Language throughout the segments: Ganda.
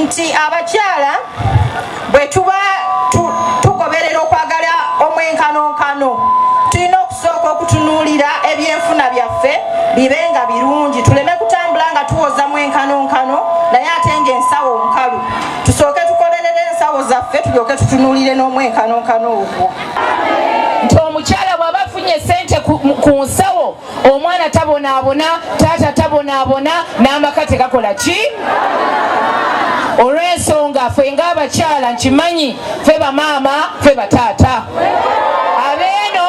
nti abakyala bwe tuba tugoberera okwagala omwenkanonkano tulina okusooka okutunuulira ebyenfuna byaffe bibe nga birungi tuleme kutambula nga tuwoza mwenkanonkano naye ate nga ensawo nkalu tusooke tukolerere ensawo zaffe tulyoke tutunuulire n'omwenkanonkano ogwo nti omukyala bw'aba afunye sente ku nsawo omwana tabonaabona taata tabonaabona n'amaka tegakola ki olw'ensonga fe ng'abakyala nkimanyi fe bamaama fe bataata abeeno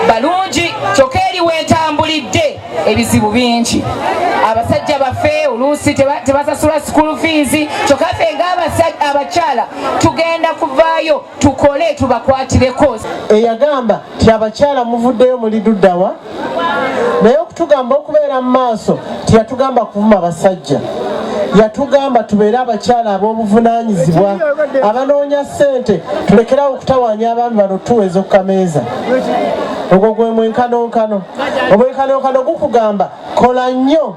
balungi kyokka eri wentambulidde ebizibu bingi abasajja baffe oluusi tebasasula sukulu fiizi kyokka fe ng'abakyala tugenda kuvaayo tukole tubakwatireko eyagamba ti abakyala muvuddeyo muli duddawa naye okutugamba okubeera mu maaso tiyatugamba kuvuma basajja yatugamba tubeere abakyala ab'obuvunanyizibwa abanoonya ssente tulekerawo okutawanya abaami bano tuweeza okukameeza ogwo gwe mwenkanonkano omwenkanonkano gukugamba kola nnyo